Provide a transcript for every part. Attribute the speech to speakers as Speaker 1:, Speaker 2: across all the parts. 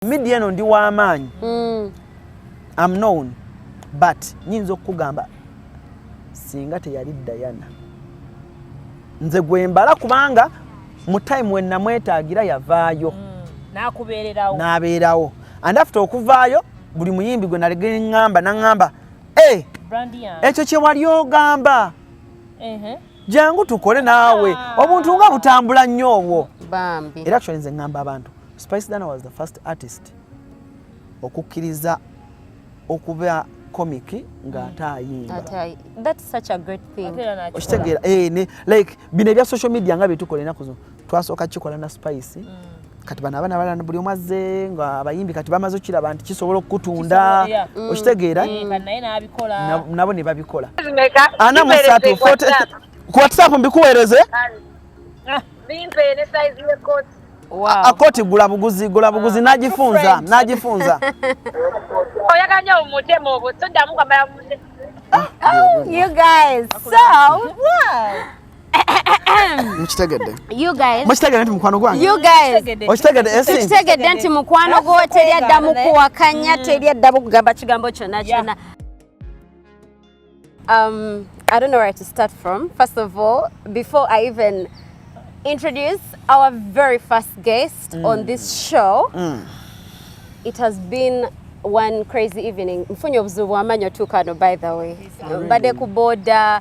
Speaker 1: media eno ndi w'amaanyi mm. am known but nyinza okukugamba singa teyali dayana nze gwembala kubanga mu time wenamwetaagira yavaayo mm. nabeerawo and after okuvaayo buli muyimbi gwe nalegeŋŋamba naŋŋamba eh, ekyo kyewali ogamba jangu tukole naawe ah. obuntu nga butambula nnyo obwo era actually
Speaker 2: nze ngamba
Speaker 1: abantu spice dana was the first artist okukkiriza okuba comic nga ate ayimba
Speaker 2: okitegeera eh,
Speaker 1: like bino ebya social media nga byetukola enaku zino twasooka kikola na spice mm. kati bano abaana balana buli omu azze nga abayimbi kati bamaze okukiraba nti kisobola okukutunda mm. okitegeera eh,
Speaker 3: nabo ne babikola
Speaker 1: ana musatu ku whatsapp mbikuweereze
Speaker 4: ah. akoti
Speaker 2: gula buguzi
Speaker 1: gula buguzi ah, nagifunza nagifunza
Speaker 4: oyaganya omutemu obwo toddamu kwambala ah, oh,
Speaker 2: you guys so what
Speaker 1: mukitegedde mukitegedde
Speaker 2: nti mukwano
Speaker 1: gwangeokitegedde
Speaker 2: eh,
Speaker 1: nti mukwano
Speaker 2: gwo teri adda mukuwakanya mm. teri adda mukugamba kigambo kyonna kyonna Um, I don't know where to start from. First of all, before I even introduce our very first guest mm. on this show, mm. it has been one crazy evening. Mfunyo buzubu amanyo tukano by the way. Mbade kuboda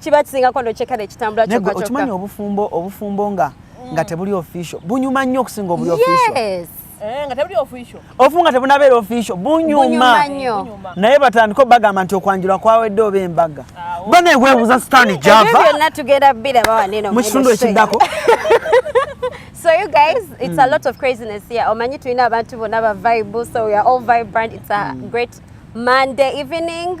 Speaker 2: kiba kisingako nokyekala ekitambula kyokka kyokka okimanyi obufumbo
Speaker 1: obufumbo nga mm. nga tebuli official bunyuma nnyo okusinga obuli official yes eh, nga
Speaker 2: tebuli official
Speaker 3: ofu nga tebunabeera
Speaker 1: official bunyuma naye batandika obagamba nti okwanjula kwawedde oba embaga ah, oh. bana ekwebuuza sitani java
Speaker 2: mu kitundu ekiddako So you guys, it's mm. a lot of craziness here. Omanyi tulina abantu bona ba vibe, so we are all vibrant. It's a mm. great Monday evening.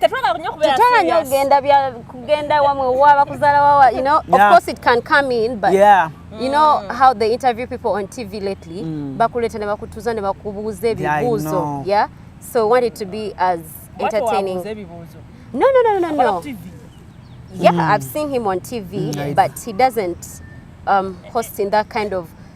Speaker 1: tetwagala nyo kubeera tetwagala nyo kugenda bya kugenda
Speaker 2: wamwe waba kuzala wawa you know yeah. of course it can come in but yeah. you know mm. how they interview people on TV lately mm. bakuleta ne bakutuza ne bakubuuza ebibuuzo yeah, yeah so want it to be as entertaining no no no no no TV. yeah mm. I've seen him on TV mm. but he doesn't um, host in that kind of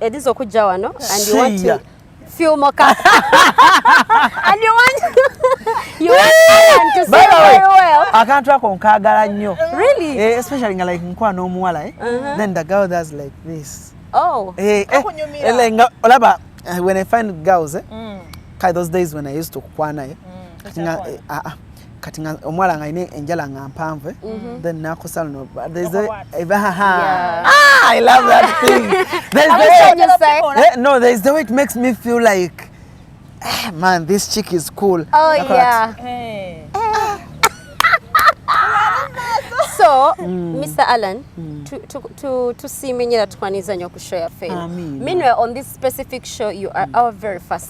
Speaker 2: Edizo okujja wano and you want to feel more and you want you want Alan to see very well. Akantu ako nkagala
Speaker 1: nnyo. Really? Eh, especially nga like nkwa n'omuwala eh.
Speaker 2: Uh-huh.
Speaker 1: Then the girl does like this.
Speaker 2: Oh. Eh, eh,
Speaker 1: eh nga olaba eh, when I find girls eh. Mm. Kai those days when I used to kwana eh. Mm. Nga, eh, ah, ah. kati nga omwala nga ine enjala nga mpanvu eh? mm -hmm. then nakosa luno there's a eva ha ha yeah. ah i love that thing there's the way you say eh, no there's the way it makes me feel like eh, man this chick is cool oh Nako yeah hey. Eh.
Speaker 2: so mm. mr allan mm. tusimenyera tukwaniriza nyo ku show yaffe minwe on this specific show you are mm. our very first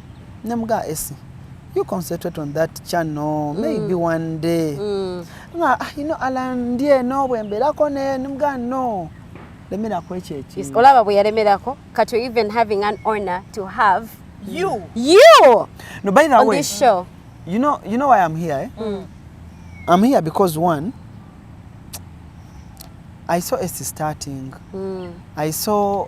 Speaker 1: ne muga esi you concentrate on that channel mm. maybe one day mm. nga ah, you know ala ndi eno bwe mbeerako ne muga no lemerako ekyo ekintu olaba bwe yalemerako
Speaker 2: kati even having an honor to have you
Speaker 3: you
Speaker 1: no by the on way this show you know
Speaker 2: you know
Speaker 1: why i'm here eh? mm. i'm here because one i saw a starting mm. i saw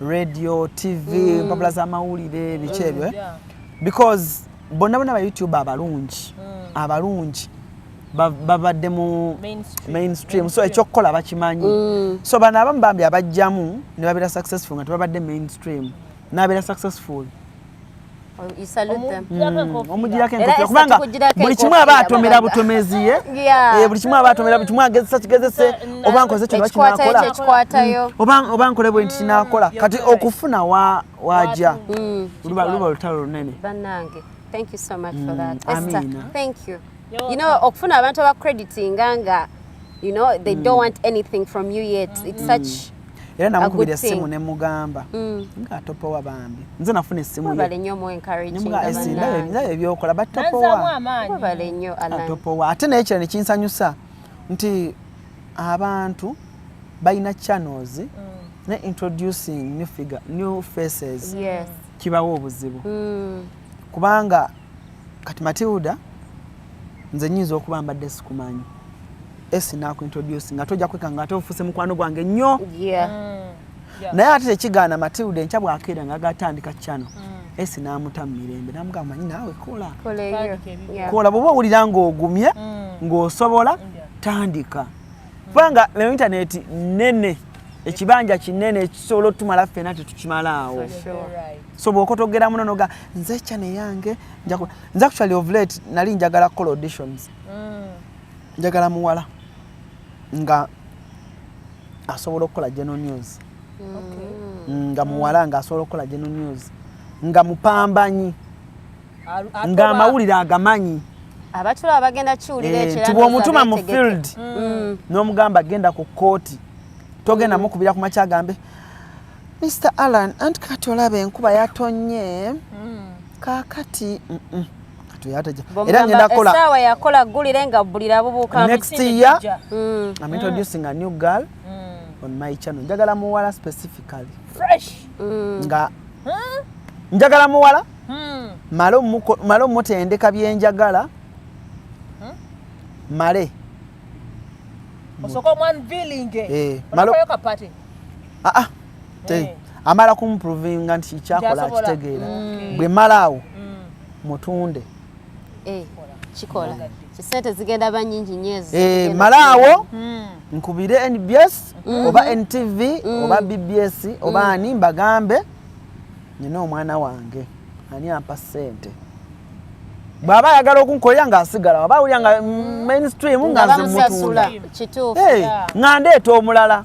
Speaker 1: radio tv mm. mpapula z'amawulire biki mm, ebyo eh? because bonna bona ba youtube abalungi mm. abalungi babadde mu mainstream so ekyokukola bakimanyi mm. so bano abamu bambi abajjamu ne babeera successful nga tebabadde mainstream nabeera successful
Speaker 2: omugirako enkofira
Speaker 1: kubanga buli kimu aba atomera butomezi ye eh, buli kimu aba atomera buli kimu agezesa kigezese oba nkoze kino bakinakola mm. oba nkole bwe nti kinakola mm. kati okufuna waja mm. luba olutalo lunene
Speaker 2: okufuna abantu abakreditinga nga you know they don't want anything from you yet it's such era namukubira
Speaker 1: essimu ne mugamba mm. nga atopowa bambi nze nafuna essimu yenaye ebyokola batopowa
Speaker 2: ate naye kira
Speaker 1: nekinsanyusa nti abantu balina channels mm. ne introducing new figure new faces yes. kibawo obuzibu mm. kubanga kati matilda nze nyinza okuba mbadde sikumanyi esi nakuintroduce nga tojja kwekanga ate ofuse mukwano gwange nnyo yeah. mm. yeah. naye ate tekigaana matilda enkya bwakeera nga gatandika kyano mm. esi namuta mu mirembe namugamba manyi naawe kola kola bwoba owulira ngaogumye mm. ngaosobola tandika mm. kubanga leo intaneti nene ekibanja kinene ekisobola otumala ffena tetukimalaawo so bwokotogera muno noga nze channel yange njaku nze actually of late nali njagala call auditions mm. njagala muwala nga asobola okukola general news okay. Mm, nga muwala nga asobola okukola general news nga mupambanyi nga amawulire agamanyi abatula
Speaker 2: abagenda kiwulira eh, ekyo tibwa omutuma mu field
Speaker 1: mm. n'omugamba genda ku kooti togenda mukubira ku makyagambe Mr Allan anti kati olaba enkuba yatonye mm. kakati mm
Speaker 2: -mm. era ngenda kola esawa yakola gulire nga bulira bubuka next year
Speaker 1: mm. I'm introducing mm. a new girl mm. on my channel njagala muwala specifically fresh mm.
Speaker 3: nga
Speaker 1: hmm? njagala muwala hmm. male muko male mutendeka byenjagala hmm? male
Speaker 3: osoko mwan feeling eh male kapati ah, ah. Eh.
Speaker 1: amala kumprovinga nti kyakola akitegeera mm. bwe malaawo mm. mutunde eh,
Speaker 2: kikola kisente zigenda ba nyingi nyezi eh, malaawo mm.
Speaker 1: nkubire nbs mm-hmm. oba ntv oba bbs oba ani mbagambe nina omwana wange ani ampa sente bwaba ayagala okunkolera ngaasigala waba awulira nga mainstream nga nzimutundae nga ndeeta omulala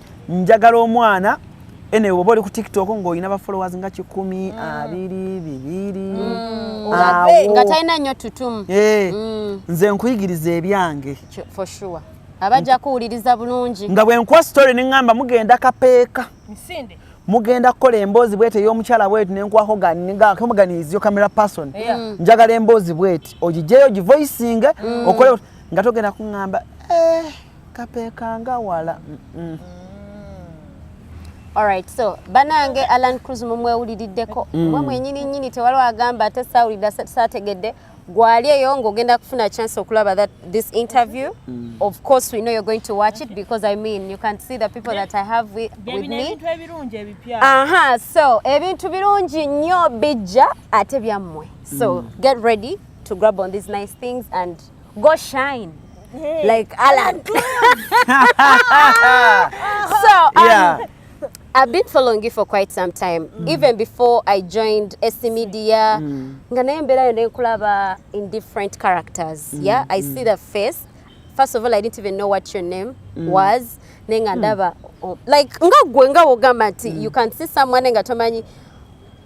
Speaker 1: njagala omwana ene oba oli ku tiktok ng'olina ba followers nga kikumi mm. abiri bibiri mm. nga talina nnyo
Speaker 2: tutumu eh, mm. nze
Speaker 1: nkuyigiriza ebyange for sure
Speaker 2: abajja kuwuliriza bulungi nga bwe nkuwa story ne
Speaker 1: ŋŋamba mugenda kapeeka misinde
Speaker 3: mugenda kukola
Speaker 1: emboozi bweti ey'omukyala bweti nenkwako gamuganiziyo camera person mm. njagala emboozi bweti ogijeyo ogivoisinge mm. okole nga togenda kuŋŋamba eh. kapekanga wala mm
Speaker 2: -mm. Alright, so banange Alan Cruz mumwewuliriddeko mm. mwe mwenyini nyini tewaliwo agamba ate saawulira saategedde gwali eyo ng'ogenda kufuna chance okulaba that this interview mm. of course we know you're going to watch it because i mean you can see the people that i have with, with me aha so ebintu birungi nnyo bijja ate byammwe so mm. get ready to grab on these nice things and go shine hey. like Alan. so um, yeah. I've been following you for quite some time mm. even before I joined SC Media mm. nga naye mberayo nenkulaba in different characters mm. yeah I mm. see the face first of all I didn't even know what your name mm. was naye nga hmm. ndaba mm. like nga gwe nga wogamba nti mm. you can see someone nga tomanyi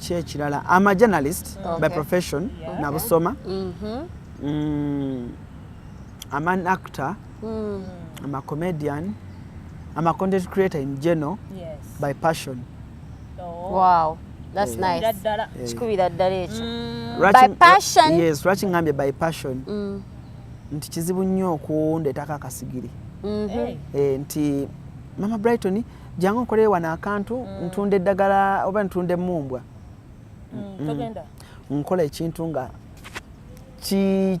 Speaker 1: kyekirala am a journalist okay. by profession yeah. nabusoma mm -hmm. mm, am an actor mm. am a comedian am a content creator in general yes. by passion oh.
Speaker 2: wow that's yeah. nice yeah. kikubira ddala ekyo mm. by passion yes lwaki ngambye by
Speaker 1: passion mm. nti kizibu nnyo okundeetako akasigiri mm -hmm. hey. eh, nti mama brighton jangu nkoleyo wano akantu mm. ntunda eddagala oba ntunda emumbwa mm, mm. nkola ekintu nga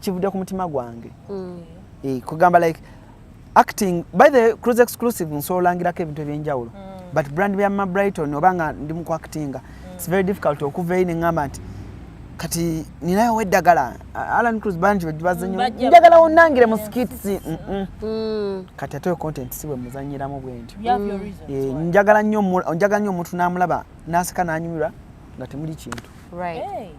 Speaker 1: kivudde ku mutima gwange mm. eh, kugamba like acting by the cruise exclusive nsolangirako ebintu ebyenjawulo mm. but brand bya mabrighton oba nga ndi mukuactinga it's very difficult okuva eyi neŋamba nti kati ninayo eddagala alan cruz bangi bebazinyo njagala wonangire mu skits mm. kati ate content si bwemuzanyiramu bwentyo eh, njagala nnyo omuntu namulaba naseka nanyumirwa nga temuli kintu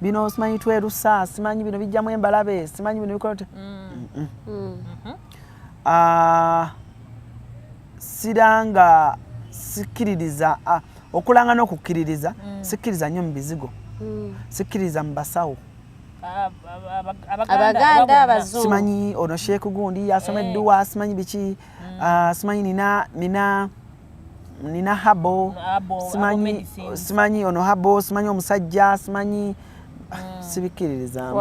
Speaker 1: bino simanyi twerusa simanyi bino bijjamu embalabe simanyi bino bikola te mm. mm. mm. mm-hmm. ah, siranga sikkiririza ah, okulanga n'okukkiririza sikkiriza nnyo mu bizigo sikkiriza mu basawo
Speaker 2: abaganda simanyi ono sheeku
Speaker 1: gundi yasoma eh. edduwa simanyi biki ah, simanyi nina nina nina habo simanyi simanyi ono habo simanyi omusajja simanyi ah, mm. sibikkiririzamu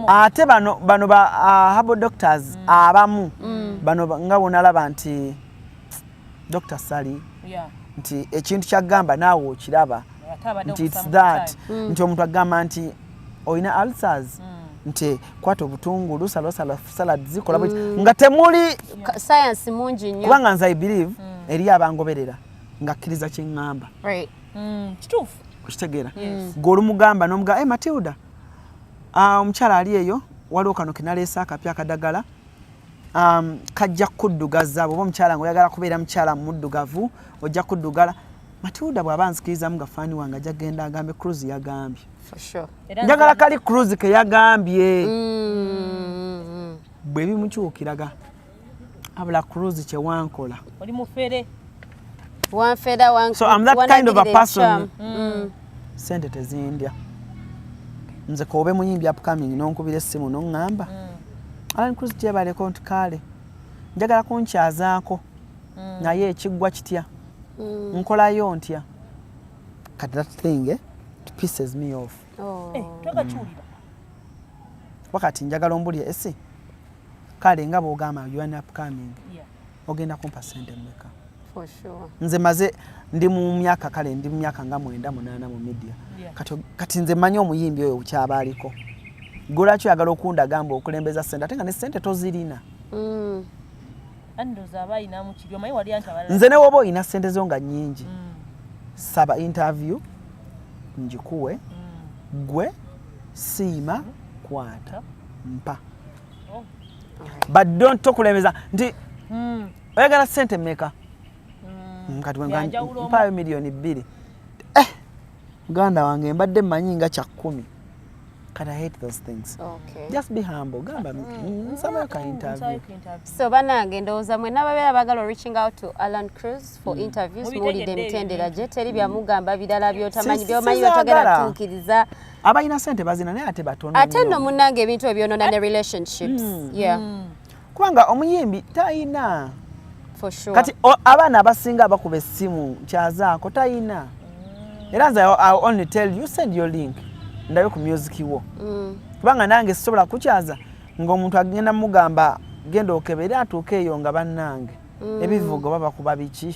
Speaker 1: ate bano bano ba uh, habo doctors mm. abamu mm. bano nga bwonalaba nti dr sally yeah. nti ekintu kyagamba naawe okiraba nti its that mm. nti omuntu agamba nti olina ulcers mm. nti kwata obutungulu salosala salad zikola mm. nga temuli science
Speaker 2: mungi nnyo kubanga nze i believe mm.
Speaker 1: eri abangoberera ngakkiriza kyeŋŋamba right. mm.
Speaker 3: kituufu okitegeera
Speaker 1: yes. gwe olumugamba nomugaa hey, eh, matilda ah, omukyala um, ali eyo waliwo kano kenaleese akapya akadagala um, kajja kuddugaza bwoba omukyala nga oyagala kubeera mukyala muddugavu ojja kuddugala Matilda bw'aba anzikirizamu nga faani wange ajja kugenda agambe Cruz yagambye.
Speaker 2: Njagala kali Cruz
Speaker 1: ke yagambye. Mm. Bwe bimukyukiraga abula Cruz kye wankola. Oli mufere.
Speaker 3: Wanfera
Speaker 1: wankola. So I'm that kind of a person. Mm. Sente tezindya. Nze ka obe muyimbi upcoming n'onkubira essimu n'oŋŋamba. Mm. Alan Cruz gyebaleko nti kaale. Njagala kunkyazaako. mm. naye ekiggwa kitya mm. nkolayo ntya kati that thing eh, pieces me off oh. eh,
Speaker 3: twagakiwulira
Speaker 1: wakati njagala ombulya esi kale nga bwogamba un upcoming ogenda kumpa sente mmeka
Speaker 2: nze maze
Speaker 1: ndi mu myaka kale ndi mu myaka nga mwenda munaana mu media kati nze mmanyi omuyimbi oyo kyaba aliko golwaki oyagala okundagamba okulembeza sente ate nga ne sente tozirina mm.
Speaker 3: nze newoba olina sente
Speaker 1: zo nga nyingi mm. saba interview njikuwe mm. gwe siima kwata mpa oh. but don't tokulembeza nti mm. oyagala sente meka mm. kati mpayo miliyoni bbiri muganda wange mbadde manyi nga kya kkumi Can I hate those things? Okay. Just be humble.
Speaker 2: Gamba
Speaker 1: mm. mm, mm someone can mm, interview. So banange
Speaker 2: ndowooza mwe n'ababeera bagala reaching out to Alan Cruz for mm. interviews muwulidde emitendera gye teri byamugamba birala byotamanyi byomanyi byotagala tuukiriza abalina sente
Speaker 1: bazina naye ate batono ate nno munnange ebintu
Speaker 2: ebyonona ne relationships mm. yeah mm. kubanga
Speaker 1: omuyimbi tayina sure.
Speaker 2: kati abaana
Speaker 1: abasinga bakuba essimu kyazaako tayina mm. era nze I only tell you send your link ndabe ku music wo mm. kubanga nange sisobola kukyaza ng'omuntu agenda mugamba genda okebere atuuke eyo nga bannange mm. ebivugo baba kuba biki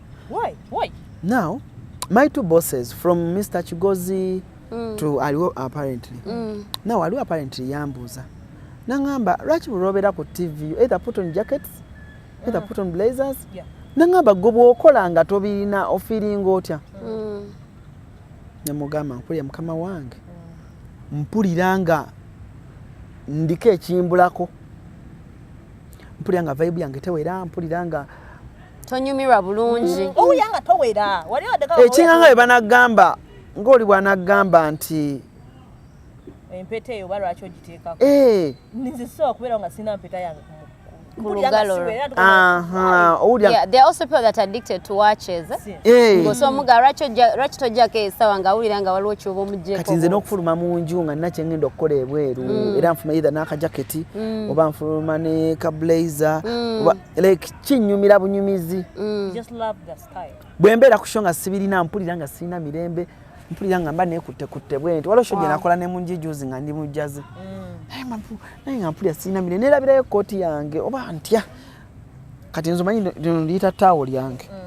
Speaker 3: Why? Why? Now,
Speaker 1: my two bosses from Mr. Chigozi mm. to Aliwo apparently. Mm. Now, Aliwo apparently yambuza. Nangamba, lwaki bulobera ku TV, either put on jackets, either mm. put on blazers. Yeah. Nangamba, gwe bwokola nga tobirina ofiringa otya. Mm. Nemugamba, nkulya mukama wange. Mm. Mpulira nga ndiko ekimbulako. Mpulira nga vibe yange tewera, mpulira nga tonyumirwa
Speaker 2: bulungi mm. owuya nga towera
Speaker 3: ekinganga bwe banagamba
Speaker 1: ng'oli bwanagamba nti
Speaker 3: empeta
Speaker 2: eyo oba lwaki ogiteekako eh. nze sisobola kubeerawo nga sirina mpeta yange kati nze n'okufuluma mu
Speaker 1: nju nga nina kyengenda okukola ebweru mm. era nfuluma either n'akajaketi mm. oba nfuluma ne kablazer mm. like kinyumira bunyumizi mm.
Speaker 3: bwe mbeera ku sho nga
Speaker 1: sibirina mpulira nga sirina mirembe mpulira nga mba nekutte kutte bwenti waliwo sho gye nakola ne munjijuzi nga ndi mujjazi mm. naye nga mpulira sirina mirembe nerabirayo ekkooti yange oba ntya kati nzomanyi liyita taawo lyange mm.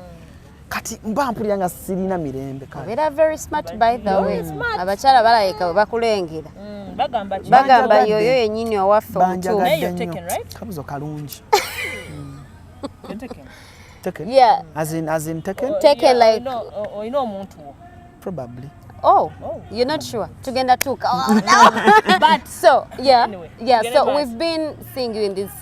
Speaker 1: kati mba mpulira nga sirina mirembe kabeera very smart
Speaker 2: by the way abakyala balabika bwe bakulengera mm, bagamba
Speaker 3: yoyo yenyini
Speaker 2: owaffe omutuukabuzo
Speaker 1: kalungi olina
Speaker 2: omuntu
Speaker 3: wo probably
Speaker 1: Oh, oh, you're
Speaker 2: not sure. Tugenda tuka. Oh, no. but so, yeah, anyway, yeah. So
Speaker 3: we've been
Speaker 2: seeing you in these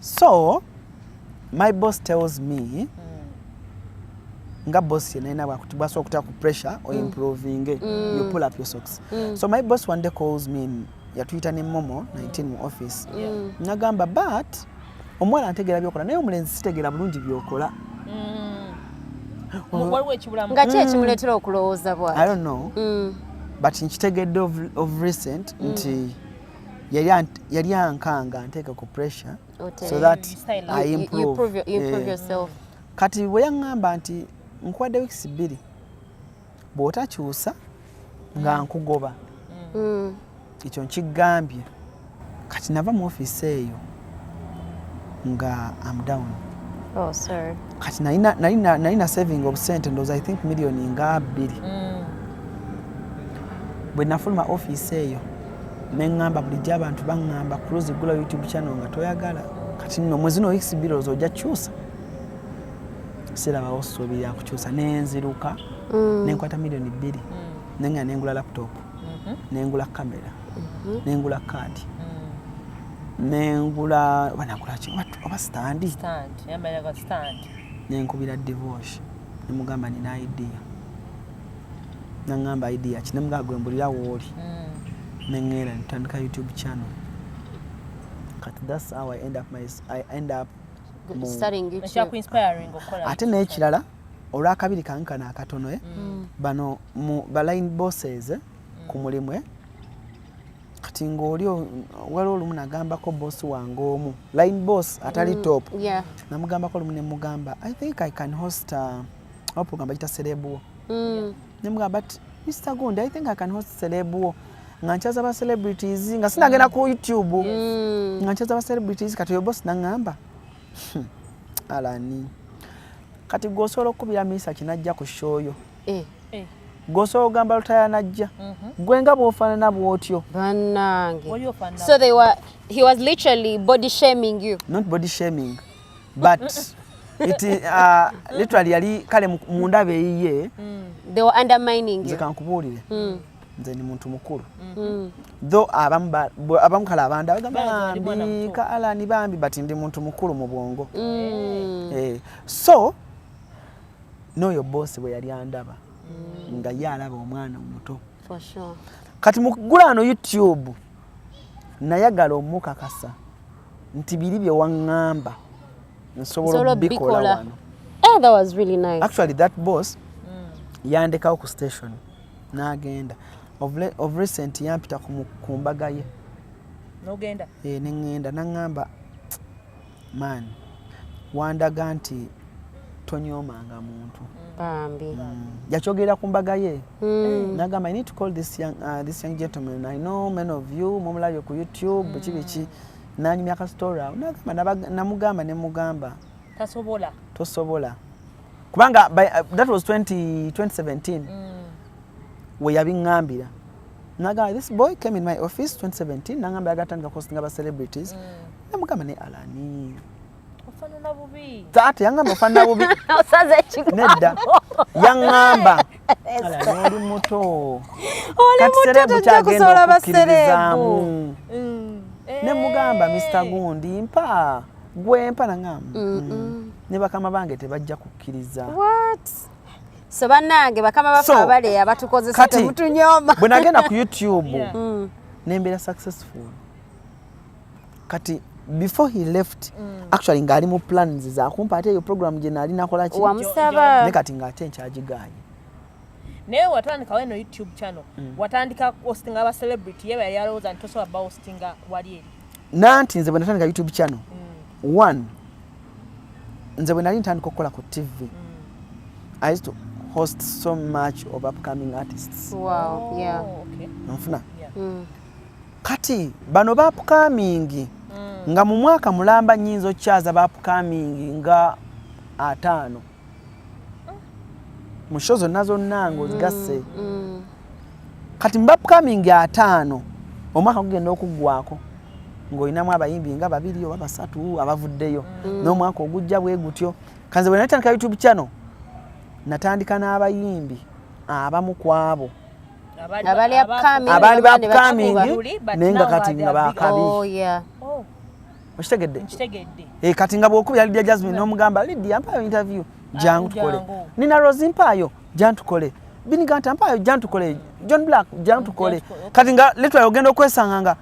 Speaker 1: so my boss tells me mm. nga boss yena yena bwasobola okuta ku pressure o mm. improvinge mm. you pull up your socks mm. so my boss one day calls me yatuyita ne momo 19 mu office yeah. Mm. nagamba but omuwala antegeera byokola naye omulenzi sitegeera bulungi byokola mm.
Speaker 2: waliwo ekibulamu nga ki
Speaker 1: ekimuleetera
Speaker 2: okulowooza bwati i don't
Speaker 1: know
Speaker 2: mm.
Speaker 1: but nkitegedde of, of recent mm. nti yali ankanga anteeka ku pressure so that I improve, you, you prove, you prove eh. yourself
Speaker 2: kati bwe
Speaker 1: yaŋŋamba nti nkuwadde wiikisi bbiri bw'otakyusa nga mm. nkugoba mm. ekyo nkigambye kati nava mu ofiisi eyo nga am down oh, sorry.
Speaker 2: kati
Speaker 1: nali na saving obusente ndowooza i think million nga bbiri mm. bwe nafuluma office eyo neŋŋamba bulijjo abantu baŋŋamba cruise gula youtube channel nga toyagala kati no mwezi no weeks bbiri ozo ojja kyusa sirabawo ssuubi lya kukyusa nenziruka mm. nenkwata millioni bbiri mm. nenga nengula laptop mm-hmm. nengula kamera mhm. nengula kaadi mm. nengula banagulaki oba sitandi
Speaker 3: nenkubira
Speaker 1: divosh nemugamba nina idea nangamba idea ki nemugamba gwembulira wooli mm. neŋera ntandika youtube channel kati thats how i end up, my, I end
Speaker 2: up ate
Speaker 3: n'ekirala
Speaker 1: olwakabiri kange kano akatono eh? mm. bano baline bosses eh? mm. ku mulimu eh? kati ng'oli waliwo olumu nagambako boss wange omu line boss atali mm, top namugambako olumu nemugamba i think i can host uh, a program bagita serebuwo mm. nemugamba but mr gund i think i can host serebuwo nga nkyaza ba celebrities nga sinagenda ku youtube mm. nga nkyaza ba celebrities kati oyo boss nangamba hmm. alani kati gwosobola okukubira misa kinajja ku show yo eh. eh. gwosobola ogamba lutaya najja mhm. gwe nga bwofanana bwotyo banange
Speaker 2: so they were he was literally body shaming you not body shaming
Speaker 1: but it uh, literally yali kale mundaba eyiye mm. they were
Speaker 2: undermining you nze kankubuulire mm.
Speaker 1: nze ni muntu mukulu mm. tho abamu kale abandi abagambambi kaalani bambi but ndi muntu mukulu mu bwongo eh. Eh. so n'oyo boosi bwe yali andaba mm. nga ye alaba omwana omuto
Speaker 2: kati mukugulaano
Speaker 1: youtube nayagala omukakasa nti biri bye waŋŋamba nsobola obikola wano eh, that was
Speaker 2: really nice. actually that boss
Speaker 1: mm. yandekawo ku station n'agenda of recent yampita ku mbaga ye nogenda
Speaker 3: eh, neŋŋenda
Speaker 1: naŋŋamba man wandaga nti tonyomanga muntu bambi mm.
Speaker 2: yakyogerera
Speaker 1: ku mbaga ye mm. nagamba i need to call this young, uh, this young gentleman i know many of you mumulabye ku youtube biki mm. biki nanyumya ka story awo nagamba namugamba ne mugamba tasobola tosobola kubanga by, uh, that was 20, 2017 mm. weyabingambira nagamba this boy came in my office 2017 nangamba yagatandika kuhostinga ba celebrities mm. namugamba ne alani ofanana
Speaker 3: bubi taata yangamba ofanana
Speaker 1: bubi osaza ekigambo
Speaker 2: nedda
Speaker 1: yangamba alani oli muto kati serebu kyagenda okukkiririzaamu mm. ne mugamba eh. mr gundi mpa gwe mpa nangamba mm. ne bakama bange tebajja kukkiriza
Speaker 2: so banange bakama bafe abale abatukozesa temutunyoma bwe nagenda ku
Speaker 1: youtube yeah. mm. nembeera successful kati before he left mm. actually ngaali mu plans zakumpa ate eyo program gye naali nakola ki wamusaba ne kati
Speaker 2: ngaate
Speaker 1: nkyagiganye
Speaker 3: naye watandikawo eno youtube channel mm. watandika hostinga aba celebrity yeba yali alowooza nti tosobola ba hostinga wali eri nanti nze bwenatandika
Speaker 1: youtube channel mm. one nze bwenali ntandika okukola ku tv mm. i used to host so much of upcoming artists wow. yeah. Oh,
Speaker 2: okay. nfuna
Speaker 3: yeah. mm.
Speaker 1: kati bano ba upcoming mm. nga mu mwaka mulamba nyinza okukyaza ba upcoming nga ataano mu show zonna zonna ngaozigasse mm, mm. kati mu bapcoming ataano omwaka gugenda okuggwako ng'olinamu abayimbi nga babiri oba basatu abavuddeyo mm. n'omwaka ogujja bwe gutyo kanze bwe natandika youtube channel natandika n'abayimbi abamu ku abo abaali bapcoming naye nga kati nga bakabi oh, oh. okitegedde nkitegedde eh kati nga bwokubira Lydia Jasmine no mugamba Lydia mpayo interview ah, jangu tukole Nina Rose mpayo jangu tukole Bini Ganta mpayo jangu tukole John Black jangu tukole kati nga literally ogenda okwesanga nga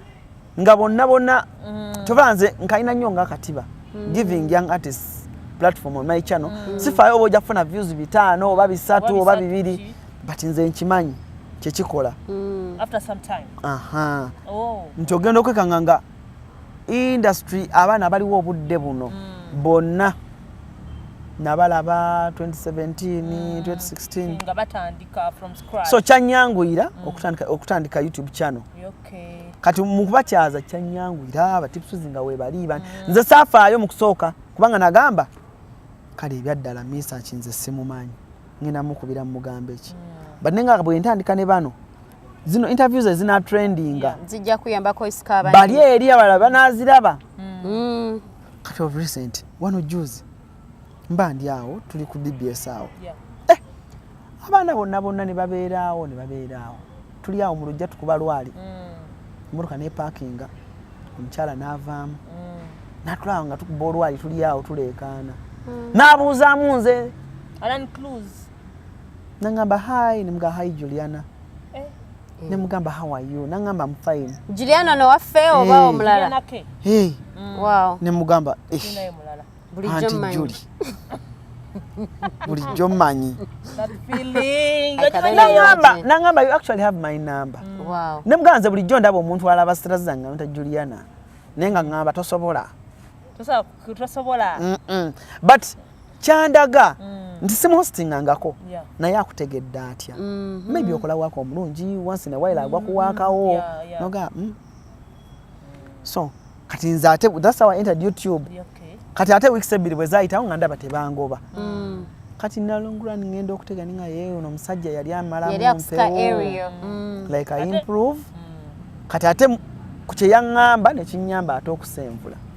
Speaker 1: nga bonna bonna mm. tobanze nkalina nnyo nga katiba mm. giving young artists platform on my channel mm. sifaayo oba ojja kufuna views bitaano oba bisatu oba bibiri but nze nkimanyi kyekikola mm. after
Speaker 3: some time aha oh.
Speaker 1: nti ogenda okwekanga nga industry abaana abaliwo obudde buno mm. bonna nabalaba 2017 2016
Speaker 3: so kyanyanguyira
Speaker 1: mm. okutandika, okutandika youtube channel okay. kati mukubakyaza kyanyanguyira batipsuzi nga webaliba mm. nze safaayo mukusooka kubanga nagamba kale ebyaddala misa ki nze simumanyi ngenda mukubira mumugambo eki mm. but nenga bwentandika ne bano zino interviews ezina trendinga zijja kuyambako
Speaker 2: isika abandi bali eri abalala
Speaker 1: banaziraba mm. kati of recent wano juzi mba ndi awo tuli ku dbs awo yeah. eh, abaana bonna bonna ne babeeraawo ne babeeraawo tuli awo mu lujja tukuba lwali mm. emotoka ne parkinga omukyala n'avaamu mm. natulaawo nga tukuba olwali tuli awo tuleekaana mm. n'abuuzaamu nze Alan Cruz. nangamba hi nemuga hi juliana eh. mm. nemugamba how are you nangamba am fine juliana no waffe
Speaker 2: oba hey. omulala hey. mm. wow. nemugamba anti juli
Speaker 1: bulijjo manyi nangamba you actually have my number mm. wow. nemugamba nze
Speaker 2: bulijjo ndaba
Speaker 1: omuntu alaba sitera zange nta juliana naye nga ngamba tosobola tosobola but kyandaga mm. nti simuhostingangako yeah. naye akutegedde atya mm -hmm. maybe okola waka omulungi once in a while agwa mm. kuwaakawo yeah, yeah. noga mm. so kati nze ate thats how i entered youtube yeah, okay. kati ate weeks ebbiri bwe zayitawo nga ndaba tebangoba mm. kati nalongura ningenda okutega ninga yeye ono omusajja yali amala mumpewo mm. like i improve mm. kati ate kukyeyaŋŋamba nekinyamba ate okusenvula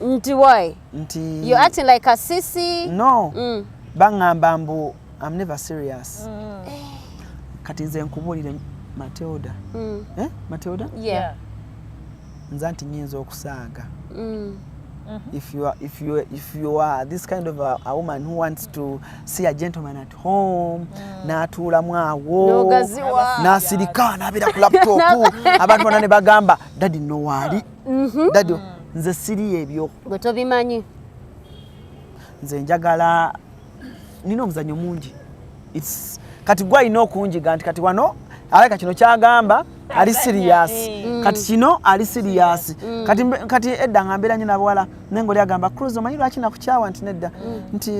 Speaker 1: nti why
Speaker 2: nti you acting
Speaker 1: like a
Speaker 2: sisi no
Speaker 1: mm. bangamba mbu i'm never serious mm. Eh. kati nze nkubulire matilda mm. eh matilda
Speaker 2: yeah nza
Speaker 1: nti nyinza okusaaga mm. Mm-hmm. if you are if you if you are this kind of a, a woman who wants to see a gentleman at home mm. natuula mwawo nasirika nabira ku laptop abantu bana ne bagamba daddy no wali mhm. dadi nze siri ebyo gwe tobimanyi nze njagala nina omuzanyo mungi kati gwe alina okunjiga nti kati wano alaka kino kyagamba ali siriyasi eh. mm. kati kino ali siriyasi mm. kati edda nga mbeera nyo nabawala naye ngaoli agamba cruz omanyi lwaki nakukyawa nti nedda mm. nti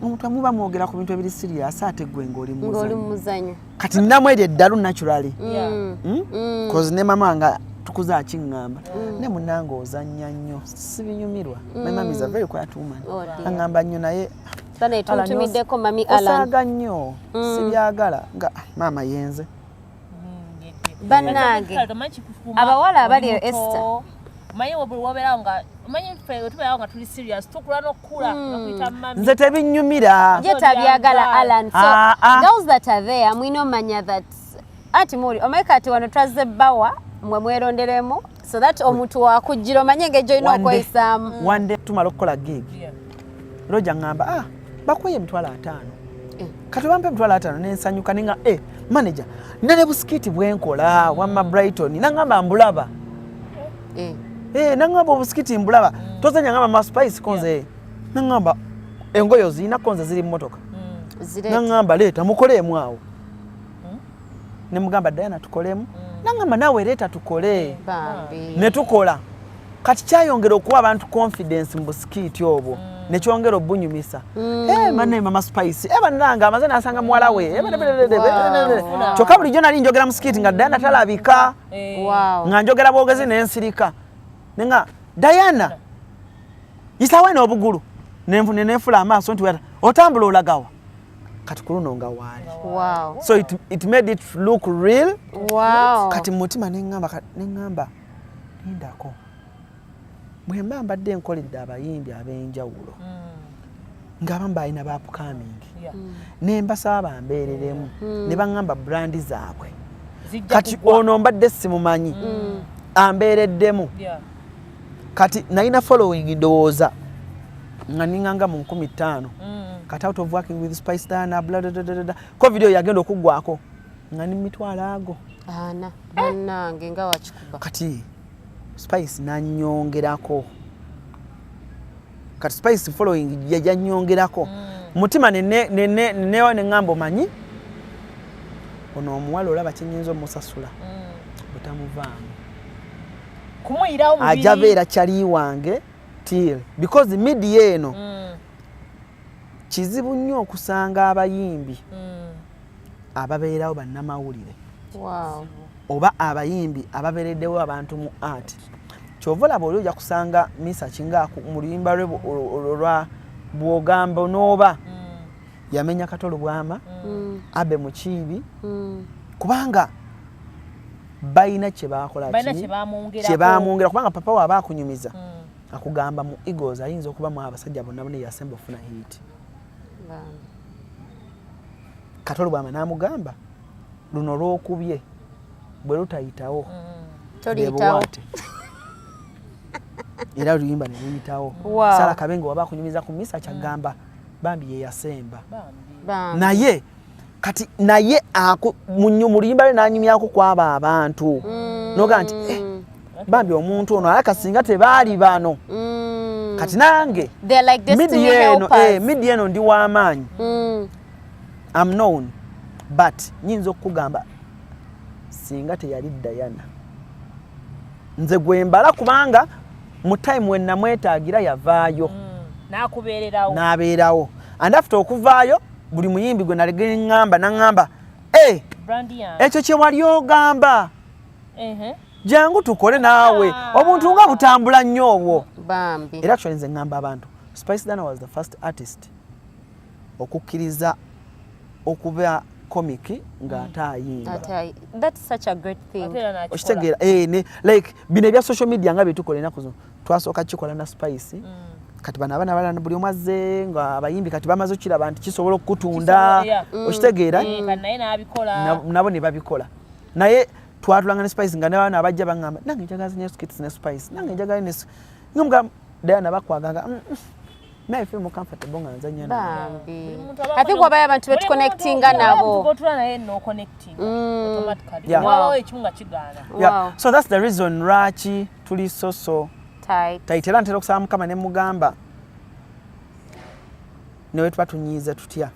Speaker 1: omuntu amuba mwogera ku bintu ebiri siriyasi ate gwe ngaoli muzanyo kati namu eryo eddalu naturally hmm? hmm. cause ne mama nga tukuza akiŋŋamba hmm. ne munange ozannya nnyo sibinyumirwa my mom is a very quiet woman oh, aŋŋamba nnyo naye tutumiddeko
Speaker 2: mami osaaga nnyo
Speaker 1: sibyagala nga ah, maama yenze bannange
Speaker 2: abawala abali eyo esta manyi buli
Speaker 3: wobeerawo nga manyi ffe tubeerawo nga tuli serious tukula n'okukula okuyita hmm. mami nze tebinnyumira
Speaker 1: ye tabyagala
Speaker 2: alan so ah, ah. girls that are there mwina omanya that ati muli omanyi kati wano twazze bbawa mwe mweronderemu so that omuntu wakujjira omanye engeri gyolina okweyisaamu wande tumala okukola
Speaker 1: gig Roja ngamba ah bakuye emitwalo ataano eh. kati bampa emitwalo ataano nensanyuka ninga e eh, manaja nina ne busikiti bwenkola wamma brighton nangamba mbulaba eh. eh, nangamba obusikiti mbulaba mm. tozanya ngamba maspice konze yeah. nangamba engoyo zirina konze ziri mumotoka mm. nangamba leeta mukoleemu awo ne mugamba Diana tukolemu mm. nangamba nawe leeta tukole mm, ne tukola kati kyayongera okuwa abantu confidence mu busikiiti obwo mm. nekyongera obunyumisa mm. hey, eh, mane mama spice hey, eh, bananga amaze nasanga muwala we hey, eh, wow. kyokka bulijjo nali njogera musikiiti nga Diana talabika wow. nga njogera bwogezi nensirika nenga Diana isawe n'obugulu nenefula amaaso nti otambula olagawa kati kuluno nga waali wow. so it,
Speaker 2: it made
Speaker 1: it look real wow. kati
Speaker 2: mumutima neŋamba
Speaker 1: neŋamba lindako bwemba mbadde enkoledde abayimbi ab'enjawulo mm. ngaabamu balina bapukamingi yeah. mm. nembasaba bambeereremu mm. ne baŋamba brandi zaabwe kati ono mbadde simumanyi mm. ambeereddemu yeah. kati nalina following ndowooza nga ninganga mu nkumi ttaano mm. kati out of working with spice dana bladadadada ko video yagenda okuggwako nga ni mitwalo ago ana
Speaker 2: banange nga wakikuba kati
Speaker 1: spice nanyongerako kati spice following yajanyongerako mm. mutima nenewa neŋamba omanyi ono omuwala olaba kyenyinza omusasula mm. butamuvaamu
Speaker 3: kumuyirawo mubiri aja beera chali
Speaker 1: wange till because media eno mm. kizibu nnyo okusanga abayimbi mm. ababeerawo bannamawulire wow. oba abayimbi ababereddewo abantu mu art kyova olaba oli oja kusanga misa kinga mu luyimba lwe olwa bwogamba onooba mm. yamenya kato lubwama mm. abe mukiibi mm. kubanga balina kyebakolakyebaamwongera kubanga papa waaba akunyumiza mm. akugamba mu egos ayinza okuba mu abasajja bonna bonna yasemba okufuna hiiti kato lubwama namugamba luno lwokubye bwe lutayitawo
Speaker 2: bebuwate
Speaker 1: era luyimba neluyitawo sala kabenga waba akunyumiza ku misa kyagamba mm. bambi yeyasemba naye kati naye muluyimba lwe nanyumyako kwabo abantu mm. noga nti eh, bambi omuntu ono alaka singa tebaali bano mm. kati nange like midia eno eh, midia eno ndi wamaanyi mm. am known but nyinza okukugamba singa teyali dayana nze gwembala kubanga mu time we namwetagira yavaayo mm, nabeerawo and after okuvaayo buli muyimbi gwe nalegeŋamba naŋamba eh, ekyo kyewali ogamba jangu tukole naawe ah. obuntu nga butambula nnyo obwo era actually nze ŋamba abantu spice dana was the first artist okukkiriza okuba comic nga ate ayimba
Speaker 2: okitegeera eh,
Speaker 1: like bino ebya social media nga byetukola enaku zino twasooka kikola na spice mm. kati bano abana balana buli omu azze nga abayimbi kati bamaze okukiraba nti kisobola okukutunda mm. okitegeera
Speaker 3: eh, mm. nabo ne babikola
Speaker 1: naye twatulanga ne spice nga nabaana abajja baŋamba nange njagala zinyo skits ne spice nange njagala ne nga mugamba dayana bakwaganga mm, naye feel more comfortable nga nzanya bambi
Speaker 2: i think wabaye abantu betu connectinga nabo gotula naye no
Speaker 3: connecting mm. automatically yeah. wow. wow. ekimunga kigana yeah. wow. so that's the
Speaker 1: reason lwaki tuli so so tight tight era ntera okusaba mukama ne mugamba newe tuba tunyiize tutya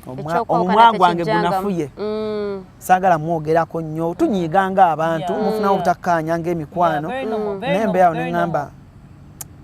Speaker 1: mm. omwa gwange gunafuye mm. saagala mwogerako nnyo tunyiiganga abantu mufunawo obutakkaanya ngaemikwano naye mbeerawo ne ŋŋamba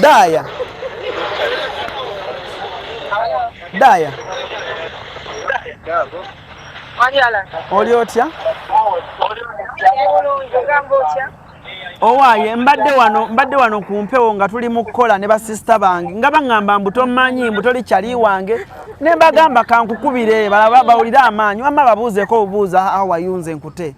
Speaker 1: Daya. Daya. Oli otya? Owaaye mbadde wano mbadde wano ku mpewo nga tuli mu kukola ne basisita bange nga baŋŋamba mbu tommanyi mbu toli kyali wange ne mbagamba kankukubire balaba bawulire amaanyi wamma babuuzeeko obubuuza awayunze nkute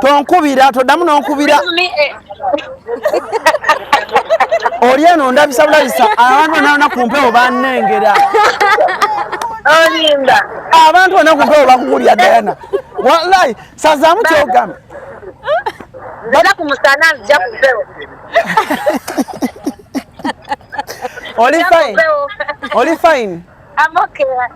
Speaker 1: tonkubira toddamu nonkubira oli eno ndabisa bulabisa abantu naona ku mpewo banengera
Speaker 4: abantu ona ku mpewo
Speaker 1: bakukulya dayana walayi sazaamu kyogamba
Speaker 4: oli
Speaker 1: fine oli fine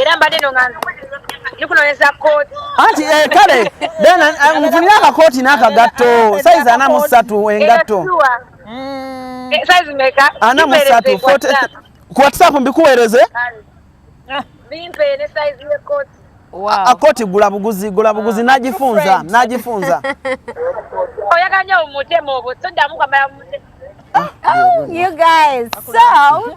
Speaker 4: era mbadde no nga ndikunonyeza kooti anti eh, kale
Speaker 1: bena eh, nfunire akakooti n'akagatto sayizi ana mu ssatu engatto mm.
Speaker 4: eh, sayizi meka ana mu ssatu
Speaker 1: ku whatsapp mbikuweereze
Speaker 4: bimpe ne sayizi y'ekkooti akoti
Speaker 2: gula buguzi
Speaker 1: gula buguzi ah, nagifunza nagifunza
Speaker 4: oyaganya omutema obwo sodamu kwamala mutema ah, oh,
Speaker 2: you guys so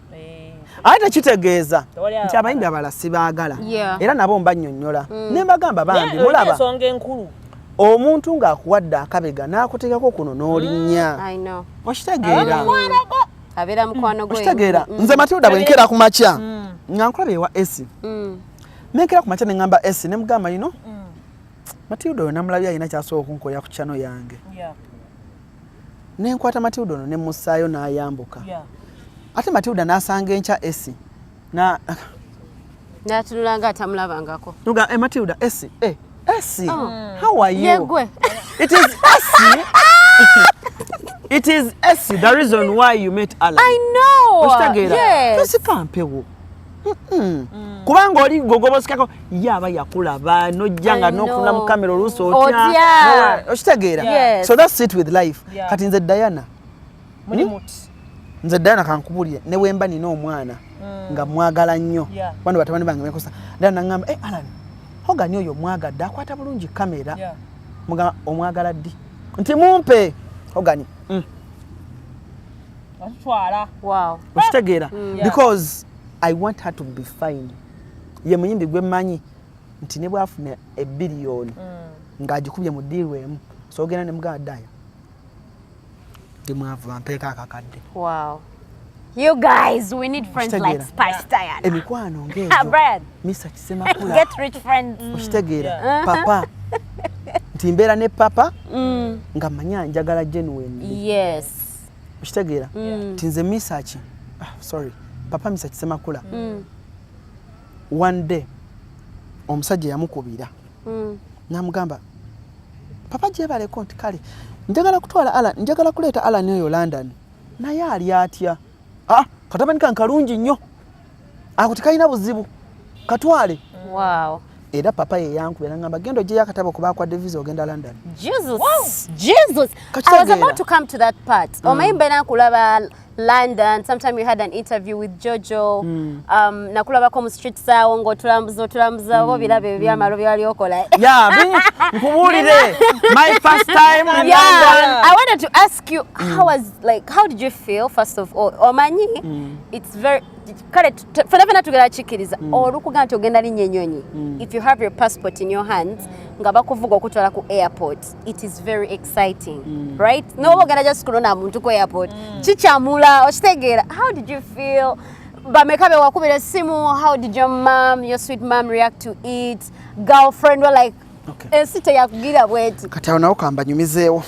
Speaker 1: Eh. aye tekitegeeza nti abayimbi abala sibaagala era nabo mbanyonyola mm. nembagamba bambi mulaba omuntu ng'akuwadde akabega n'akuteekako kuno n'olinnya mm, okitegeera
Speaker 2: okitegeera mm. nze matilda bwe
Speaker 1: nkeera ku makya nga nkulaba ewa esi nenkeera ku makya ne ŋŋamba esi ne mugamba yino matilda oyo namulabye alina kyasobola okunkoya ku kyano yange ne nkwata matilda ono ne mmussaayo n'ayambuka ate matilda n'asanga enkya esi na
Speaker 2: natunula nga atamulabangako nuga e matilda
Speaker 1: esi e esi oh. how are you yegwe it is esi it is esi the reason why you met alan i know
Speaker 2: okitegeera yes.
Speaker 1: tosikwa
Speaker 2: mpewo
Speaker 1: Mm. kubanga oli gogobosikako ye aba yakulaba nojja nga nokuna mu kamera oluusi otya okitegeera so that sit with life kati nze diana hmm? nze diana kankubulire newemba nina omwana mm. nga mwagala nnyo bano batabani bange mekosa diana nagamba eh, alan hogani oyo mwagadde akwata bulungi kamera omwagala ddi nti mumpe hogani mm.
Speaker 2: atutwala wow okitegeera mm.
Speaker 1: because i want her to be fine ye muyimbi gwe manyi nti ne bwafuna ebiliyoni mm. ng'agikubye mu diiru emu so ogenda ne muganda daya ndi mwavu bampeeko akakadde
Speaker 2: wow You guys, we need friends Ushtegera. like Spice Diana. Emikwano ngejo. Ah,
Speaker 1: Brian. Mr.
Speaker 2: Kisemakula.
Speaker 1: Get rich friends.
Speaker 2: Mm. Ushtegera. Yeah. Uh-huh.
Speaker 1: Papa. Nti mbeera ne papa mm. nga manya njagala genuine. Yes.
Speaker 2: okitegeera
Speaker 1: mm. ti nze misaki ah, sorry papa misaki semakula mm. one day omusajja yamukubira mm. namugamba papa gyebaleko nti kale njagala kutwala ala njagala kuleeta alani oyo london naye ali atya ah, katabani kankalungi nnyo ako tekalina buzibu katwale wow.
Speaker 2: era papa
Speaker 1: yeyankuba era ngamba genda ojeyo akatabo kuba akwadde visa ogenda london
Speaker 2: mm. omanyi mbeera nkulaba london sometime you had an interview with jojo mm. um, nakulabako mu street saawo ngaotulambuza otulambuza oba mm. obiraba ebyo byamalo mm. byewali okola
Speaker 1: nkubulire my first time in yeah. london i wanted to
Speaker 2: ask you mm. how was like how did you feel first of all omanyi mm. it's very kale fena fena tugera kikiriza mm. olukuga nti ogenda linya enyonyi mm. if you have your passport in your hands nga bakuvuga okutwala ku airport it is very exciting mm. right mm. noba ogenda just kulona muntu ku airport mm. kikyamula okitegeera how did you feel bameka bewakubira esimu how did your mom your sweet mom react to it girlfriend were like okay. ensi teyakugira bweti kati awo nawo kambanyumizeewo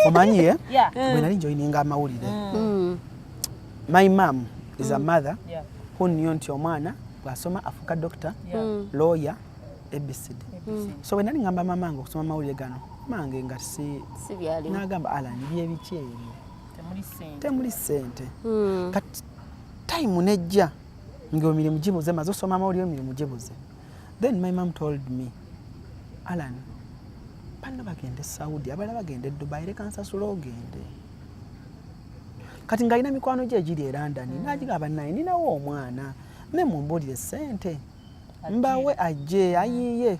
Speaker 1: omanyi ye eh? mm. bwenali njoyininga amawulire mm. Mm. my mam is a mother who knew nti omwana bwasoma afuuka doctor lawyer abcd so bwe nali ngamba mamange okusoma amawulire gano mange nga si nagamba alan byebiki ebyo temuli sente kati time nejja nga emirimu gibuze maze osoma amawulire emirimu gibuze then my mom told me alan banna bagenda e saudi abalala bagenda e dubai leka nsasula ogende kati ng'alina mikwano gye egiri e london mm. nagigaba naye ninawo omwana me mumbuulire sente mbawe ajje ayiiye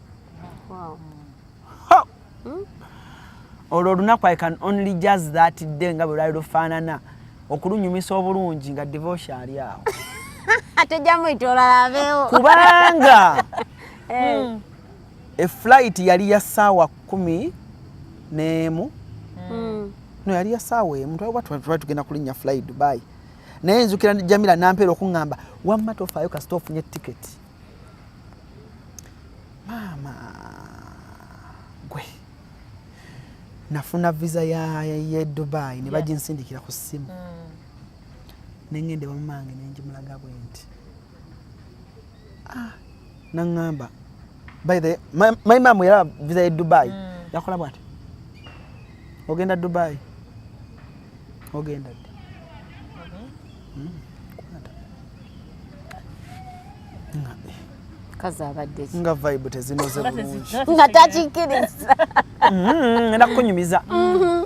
Speaker 2: hmm?
Speaker 1: olwo olunaku i can only jaz that day nga bwe lwali lufaanana okulunyumisa obulungi nga devotion ali awo
Speaker 2: kubanga eh.
Speaker 1: hmm. eflight yali ya saawa kumi neemu hmm. no yali ya saawa emu twali tugenda kulinnya fly dubai naye nzukira jamira nampeera okuŋŋamba wamma tofaayo kasita ofunye tiketi maama gwe nafuna visa ya, ya, ya dubai ne baginsindikira ku ssimu mm. nengende wamumange nenjimulaga bwe nti ah, naŋŋamba by the my, my mom yalaba visa ya dubai mm. yakola bwati ogenda dubai ogenda ddi mm-hmm.
Speaker 2: kazi abadde ki nga vibe
Speaker 1: tezinoze bulungi nga takikkiriza
Speaker 2: mm-hmm, enda
Speaker 1: kukunyumiza mm-hmm.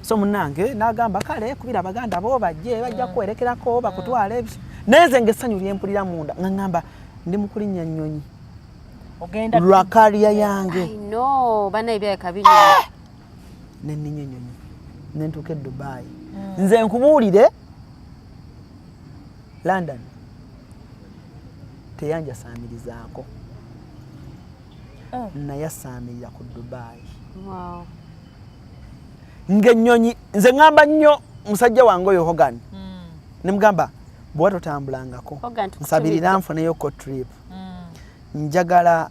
Speaker 1: so munange nagamba kale kubira abaganda bo bajje bajja kuwerekerako bakutwala ebyo nenze nga essanyu lyempulira munda nga ngamba ndi mukulinnya nnyonyi
Speaker 3: lwakaliya
Speaker 1: yange banaye
Speaker 2: byayakabiri
Speaker 1: nenninyonyonyo nentuuka e dubai hmm. nze nkubuulire london teyanjasaamirizaako oh. nayasaamirira ku dubai ngaennyonyi nze ŋamba nnyo musajja wange oyo hogan hmm. nemugamba bwewa totambulangako nsabirira nfuneyo ko trip hmm. njagala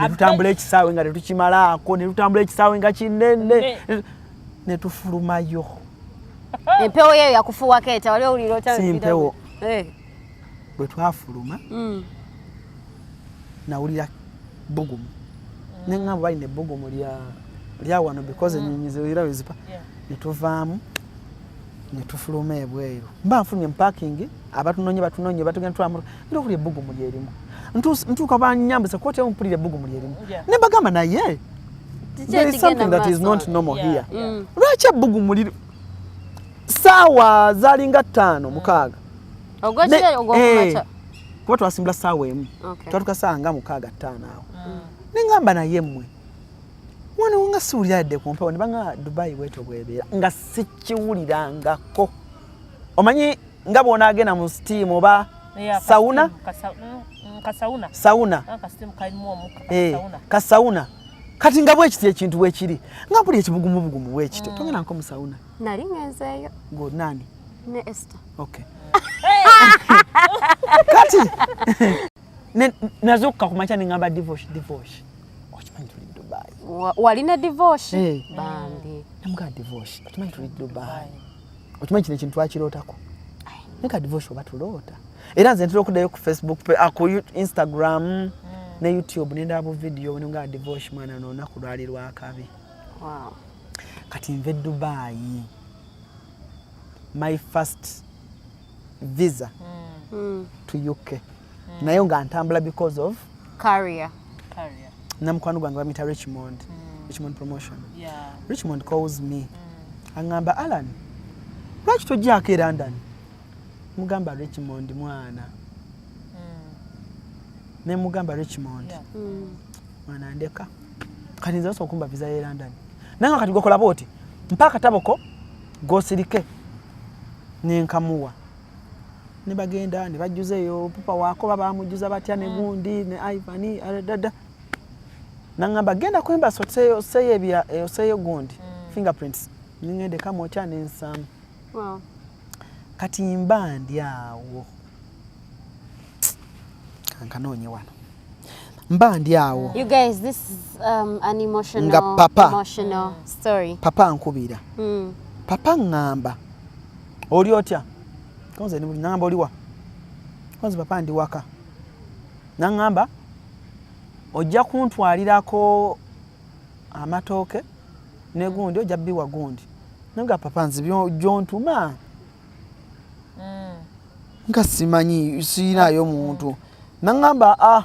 Speaker 2: netutambula ekisaawe nga
Speaker 1: tetukimalaako netutambula ekisaawe nga kinene netufulumayo
Speaker 2: empewo yeyo yakufuwako eta wali owulira otasimpewo
Speaker 1: eh. bwe twafuluma mm. nawulira bugumu neŋamba balina ebbugumu lya wano because mm. enyonyi ziwira wezipa netuvaamu netufuluma ebweru mba nfunye mupakingi abatunonye batunonye batugenda tulamu ndio kuli ebugu muli elimu ntuuka ntu banyambisa koti emu mpulira ebbugu muli erimu yeah. ne mbagamba naye there is something that is not normal yeah. here yeah. Mm. lwaki ebbugu muli saawa zalinga ttaano mm. mukaaga
Speaker 2: eh, kuba twasimbula
Speaker 1: saawa emu okay. twatuka saawa nga mukaaga ttaano awo mm. nengamba naye mmwe mwana wanga siwulira yadde ku mpewo ne banga dubai bweto bwebeera nga sikiwulirangako omanyi nga bw'onaagenda mu sitiimu oba sawuna kasauna sauna ah, eh, kasauna kati nga bwekiti ekintu bwekiri nga buli ekibugumubugumu bwekito mm. togenda nko musauna nali ngenzeeyo
Speaker 2: ngo nani
Speaker 1: ne esta
Speaker 2: okay
Speaker 1: kati nazukuka kumakya nengamba divosh divosh okimanyi tuli dubai walina divosh
Speaker 2: eh. bambi namugaa divosh
Speaker 1: okimanyi tuli dubai okimanyi kino ekintu twakirootako naye ka divosi oba tuloota era nze ntera okuddayo ku facebook ah, ku instagram mm. ne youtube nendaba bu vidiyo nga divosi mwana nonaku lwali lwakabi kati nve dubayi my first visa mm. to uk mm. naye nga ntambula because of Carrier.
Speaker 2: Carrier.
Speaker 1: Namukwano gwange bamita Richmond. Mm. Richmond promotion. Yeah. Richmond calls me. Mm. Angamba Alan. Lwaki tojjako e London? Mugamba Richmond mwana. Mm. Ne mugamba Richmond. Yeah. Mm. Mwana ndeka. Kati nze okumba visa ye London. Nanga kati gokola boti. Mpaka taboko gosilike. Nenkamuwa. ne bagenda ne bajjuza eyo pupa wakoba bamujjuza batya ne mm. gundi ne Ivan dada nangamba genda ku embassy oseyo oseyo ebya eh, oseyo gundi mm. fingerprints ningende kama ocha ne nsam wow kati mba ndi awo kankana onye wano mba ndi awo you guys this is
Speaker 2: um, an emotional nga papa emotional
Speaker 1: story
Speaker 2: papa nkubira
Speaker 1: mm. papa ngamba oli otya konze ndi bulungi nangamba oliwa konze papa ndi waka nangamba ojja kuntwalirako amatooke negundi ojja biwa gundi naga papa nze gyontuma mm. nga simanyi siyinayo muntu nangamba a ah,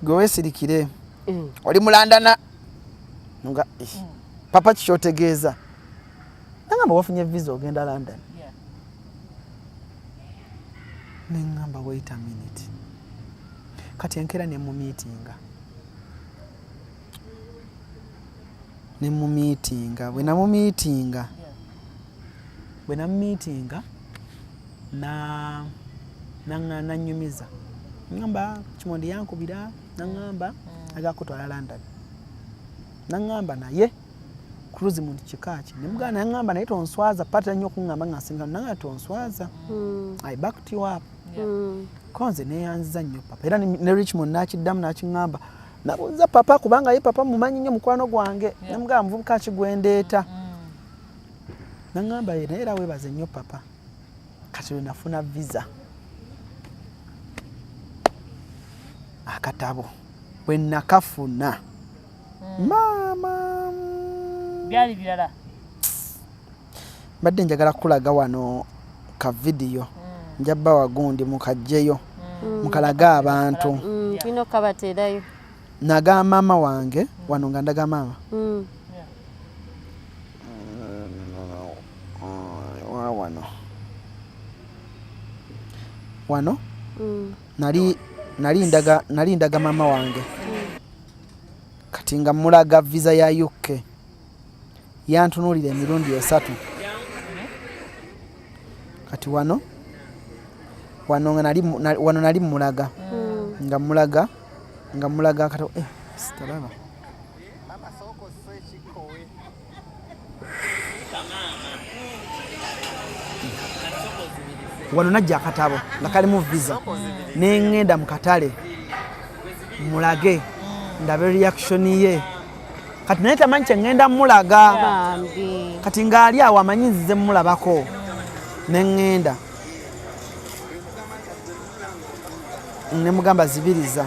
Speaker 1: gwe wesirikire mm. oli mulandana nga eh, mm. papa kikyotegeeza nangamba wafunye visa ogenda london yeah. nengamba wait a minute kati enkera nemumitinga nemumitinga bwenamumitinga yeah. bwenamumitinga na nanyumiza ngamba kimondi yankubira nangamba mm. agakutwala london nangamba naye Cruz mu kika ki ne mugana yangamba naye tonswaza patira nnyo okungamba nga nsinga nanga tonswaza mm. I backed you up yeah. mm. konze neyanziza nnyo papa era ne Richmond nakiddamu nakingamba nabuuza papa kubanga ye papa mumanyi nnyo mukwano gwange yeah. ne mugamba muvubuka ki gwendeeta mm. nangamba ye naye era webaze nnyo papa kati lwenafuna visa akatabo bwenakafuna maama byali
Speaker 3: birala
Speaker 1: mbadde njagala kukulaga wano ka vidiyo mm. nja bba wagundi mukajjeyo mm. mukalaga abantu mm, tulina okukabateerayo
Speaker 2: naga
Speaker 1: maama wange wano nga ndaga maama wano wano nali nali ndaga nali ndaga mama wange kati nga mulaga visa ya uk yantunuulira emirundi esatu kati wano wano nga nali wano nali mulaga hmm. nga mulaga nga mulaga kati eh sitalaba wano najja akatabo nga kalimu visa nengenda mu katale mulage ndabe reaction ye kati naye tamanyi kyengenda mulaga kati ngaali awo amanyi nzize mulabako nengenda nemugamba zibiriza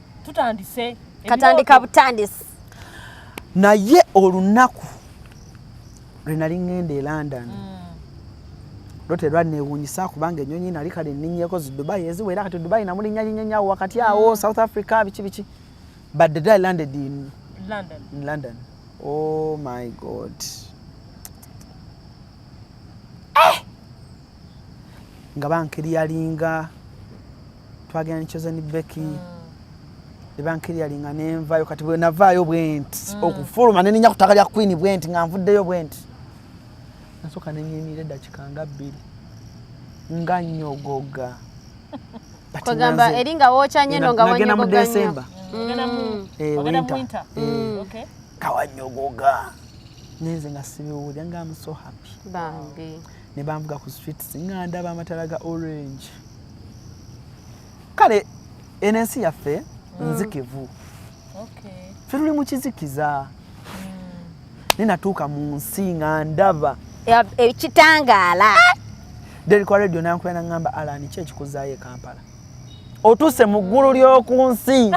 Speaker 3: tutandise katandika
Speaker 2: butandisi
Speaker 1: naye olunaku lwe nali ŋŋenda e london mm. lote lwanneewuunyisa kubanga ennyonyi nali kale nninnyeko zi dubai eziwera kati dubai namulinnya linyenyawo wakati awo mm. south africa biki biki but the day landed in london, in london. oh my god nga bankiri yalinga twagenda ne chosen becky mm. ebankiri yalinga nenvayo kati bwenavaayo bwenti mm. okufuluma neninya ku ttaka lya queen bwenti nga nvuddeyo bwenti nasooka nenyimiira eddakika nga bbiri nga nyogoga
Speaker 2: kwegamba eri nga wookya nnyo no nga wagenda mu desemba
Speaker 1: kawanyogoga nenze nga sibiwulira nga am so happy bambi
Speaker 2: ne banvuga ku
Speaker 1: streets nga ndaba amatala ga orange kale eno ensi yaffe mm. nzikivu ffe tuli mu kizikiza mm. nenatuuka mu nsi nga ndaba ekitangaala eh, derikwa radio nankubera nagamba alani ki ekikuzaayo e kampala otuuse mu ggulu ly'oku nsi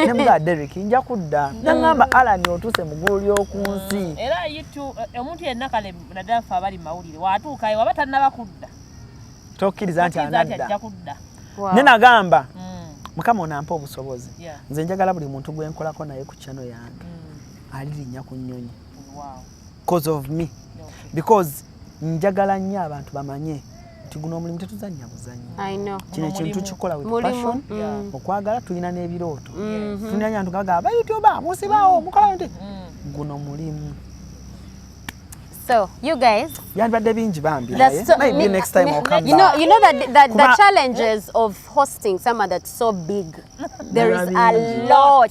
Speaker 1: ne mugaa Derek nja kudda nangamba mm. Alan otuuse mu ggulu ly'oku mm. nsi era yitu
Speaker 3: eh, omuntu yenna kale naddala ffe abali mawulire watuukayo waba tannaba kudda tokkiriza nti
Speaker 1: anadda kudda ne nagamba
Speaker 3: mm.
Speaker 1: mukama onampa obusobozi nze njagala buli
Speaker 3: muntu gwe
Speaker 1: nkolako naye ku kyano yange alirinnya ku nnyonyi
Speaker 3: cause of me
Speaker 1: because njagala nnyo abantu bamanye nti guno omulimu tetuzannya buzannya kino ekintu
Speaker 2: kikola with
Speaker 1: passion mm.
Speaker 2: okwagala
Speaker 1: tulina n'ebirooto mm-hmm. tulina nyantu gaga bayutuba musibawo mm. mukola nti mm. guno mulimu
Speaker 2: So you guys, yandibadde bingi bambi
Speaker 1: maybe next
Speaker 2: time I'll come
Speaker 1: you know, you know that, that
Speaker 2: the challenges of hosting some that so big there is a lot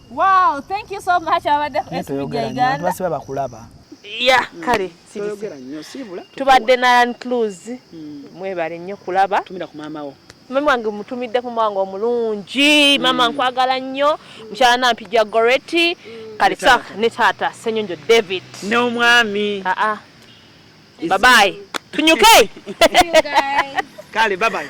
Speaker 3: Wow, thank you so much abadde SPJ Uganda.
Speaker 1: Twasiba bakulaba. Yeah, kale
Speaker 5: sibogera nnyo
Speaker 1: sibula. Tubadde na Land
Speaker 5: Cruise. Hmm. Mwebale nnyo kulaba. Tumira ku maama wo.
Speaker 1: Mama wange mutumidde
Speaker 5: ku mwango omulungi. Hmm. Mama nkwagala nnyo. Mshala na mpija Goretti. Hmm. Kale sa ne tata Senyonjo David. Ne omwami.
Speaker 1: Ah ah. Bye bye.
Speaker 5: Tunyuke.
Speaker 1: Kale
Speaker 5: bye bye.